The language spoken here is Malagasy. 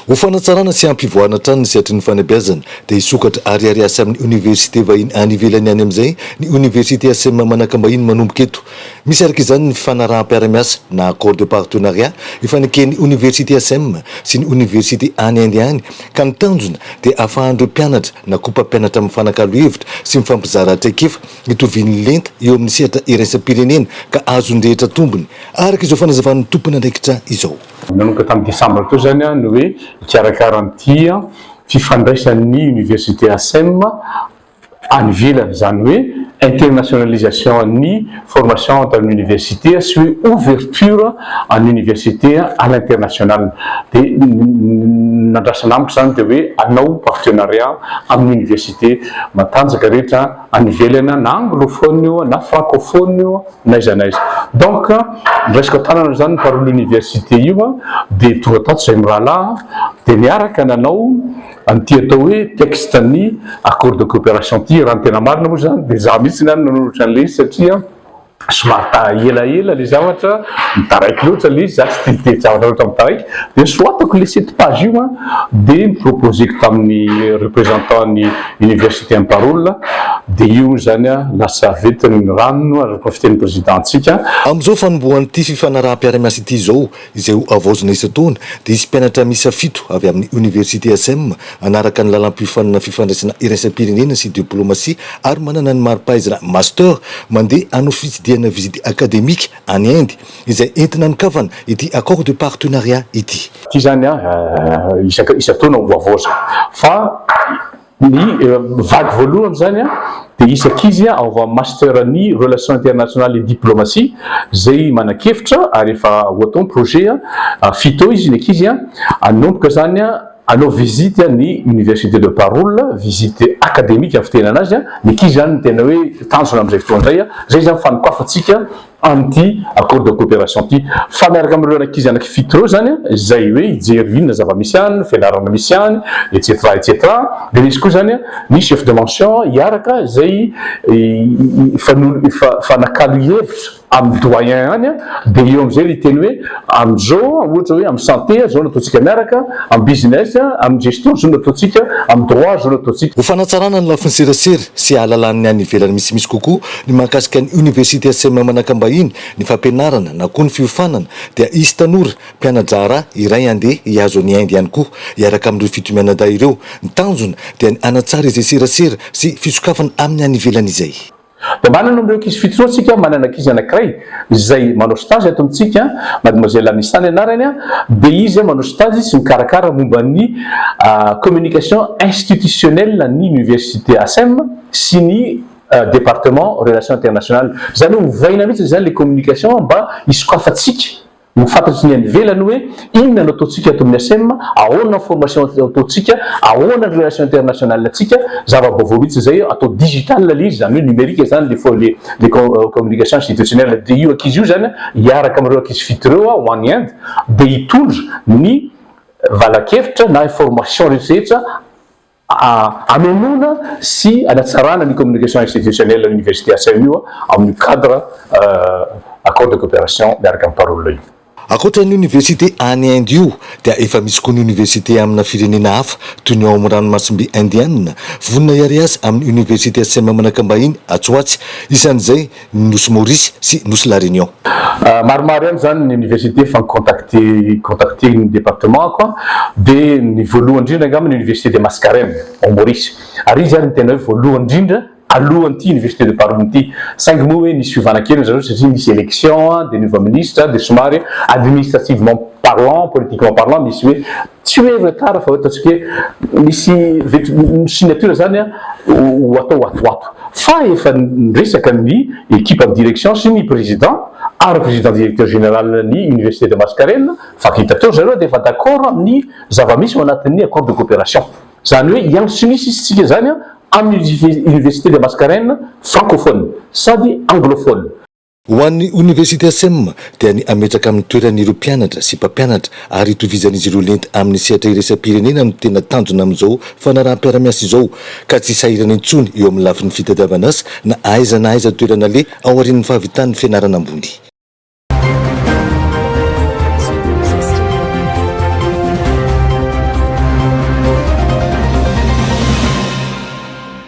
Ho fanatsarana sy hampivoarana hatrany ny sehatry ny fanabeazana dia hisokatra ary hiariasa amin'ny oniversite vahiny any ivelany any amin'izay ny oniversite Asem manakambahiny manomboka eto. Misy araka izany ny fifanaraham-piara-miasa na accord de partenariat ifaneken'ny oniversite Asem sy ny oniversite any Inde any ka ny tanjona dia afahan'ireo mpianatra na kopa-mpianatra mifanakalo hevitra sy mifampizara traikefa itovian'ny lenta eo amin'ny sehatra iraisam-pirenena ka azon'ny rehetra tombony, araka izao fanazavan'ny tompon'andraikitra izao. Nanomboka tamin'ny desambra teo izany ny hoe hikarakara an'ity fifandraisan'ny Université Asem, any ivelany, izany hoe internationalisation an'ny formation entre ny université sy hoe ouverture an'ny université à l'international. Dia ny nandrasana amiko izany dia hoe hanao partenariat amin'ny université matanjaka rehetra any ivelany, na anglophone io, na francophone io, na aiza na aiza. Donc niraisiko an-tanana izany par l'université io dia tonga tato izahay mirahalahy dia niaraka nanao. An'ity atao hoe texte ny accord de coopération ity, raha ny tena marina moa izany dia izaho mihitsy ihany no nanoratra an'ilay izy satria somary taha elaela ilay zavatra, mitaraiky loatra ilay izy, izaho tsy tia mitety zavatra loatra mitaraiky, dia soratako ilay sept page io an, dia ni-proposer-ko tamin'ny représentant ny université Amparola, dia io hoy izany an, lasa ventin'ny rano araka ny fitenin'ny président-ntsika. Amin'izao fanombohan'ity fifanaraham-piaraha-miasa ity izao izay ho havaozina isan-taona, dia hisy mpianatra miisa fito avy amin'ny Oniversite Asem hanaraka ny lalam-piofanana Fifandraisana Iraisam-pirenena sy Diplaomasia ary manana ny mari-pahaizana Master mandeha hanao fitsidihana visite académique any Inde izay entina anokafana ity Accord de Partenariat ity. Ity izany isan-taona ho havaozina fa. Ny vague voalohany izany dia hisy ankizy ao amin'ny Master ny Relations Internationales et Diplomatie izay manan-kevitra ary efa ohaton projet fito eo izy ny ankizy hanomboka izany hanao visite ny Université de Barul, visite académique ny fitenana azy, ny ankizy izany no tena hoe tanjona amin'izay fotoana izay. Izay izany fanokafantsika amin'ity accord de coopération ity fa miaraka amin'ireo ankizy anaky fito ireo izany izay hoe hijery inona zava-misy any, ny fianarana misy any etc etc dia misy koa izany ny chef de mention hiaraka izay hifanakalo hevitra amin'ny doyen any dia eo amin'izay ilay teny hoe amin'izao ohatra hoe amin'ny santé izao no ataontsika miaraka, amin'ny business, amin'ny gestion izao no ataontsika, amin'ny droit izao no ataontsika. Ho fanatsarana ny lafiny serasera sy hahalalan'ny any ivelany misimisy kokoa Ny mahakasika ny Université Sem manakam-bahiny ny fampianarana na koa ny fiofanana dia hisy tanora, mpiana-draharaha, iray handeha hihazo an'i Inde ihany koa hiaraka amin'ireo fito mianadahy ireo. Ny tanjona dia ny hanatsara izay serasera sy fisokafana amin'ny any ivelany izay. Dia manana an'ireo ankizy fito izao isika, manana ankizy anankiray izay manao stage ato amintsika, Mademoiselle Amissa ny anarany, dia izy manao stage sy mikarakara momba ny communication institutionnelle ny Université Sem sy ny. département relations internationales zany hoe ovaina mihitsy zany le communication mba hisokafantsika ho fantatry ny any ivelany hoe inona no ataontsika ato amin'ny ACEM, ahoana ny formation ataontsika, ahoana ny relations internationales ntsika, zava-baovao mihitsy zay, atao digital le izy zany hoe numérique zany le fo le le communication institutionnelle de io ankizy io zany hiaraka amin'ireo ankizy fito ireo ho any Inde de hitondra ny valan-kevitra na information rehetra rehetra Hamenoana sy hanatsarana ny communication institutionnelle Université Assainies io amin'ny cadre accord de coopération miaraka amin'ny Parole io. Ankoatra ny Université any Inde io dia efa misy koa ny Université amina firenena hafa toy ny ao amin'ny ranomasimbe Indiana. Vonona hiary azy amin'ny Université Assainies Manakambahiny atsy ho atsy, isan'izay, ny Nosy Maurice sy Nosy La Réunion. Maromaro ihany izany ny université efa ni-contacter contacter ny département-ko dia ny voalohany indrindra angamba ny université de Mascarene ao Maurice ary izy ary no tena hoe voalohany indrindra alohan'ity université de Parum ity saingy moa hoe nisy fiovana kely ry zareo satria nisy élection dia niova ministra dia somary administrativement parlant politiquement parlant misy hoe Tsy hoe efa tara fa ataontsika hoe misy signature izany ho atao atoato. Fa efa niresaka ny ekipan'ny direction sy ny président ary président directeur général ny université de Mascarene fa vita teo ry zareo dia efa d'accord amin'ny zava-misy ao anatin'ny accord de coopération. Izany hoe hiandry tsy misy isika izany amin'ny université de Mascarene francophone sady anglophone. Ho an'ny Oniversite Sem dia ny hametraka amin'ny toerany ireo mpianatra sy mpampianatra ary hitovizan'izy ireo lenta amin'ny sehatra iraisam-pirenena no tena tanjona amin'izao fanaraham-piara-miasa izao ka tsy sahirana intsony eo amin'ny lafiny fitadiavan'asa na aiza na aiza toerana aleha aorian'ny fahavitan'ny fianarana ambony.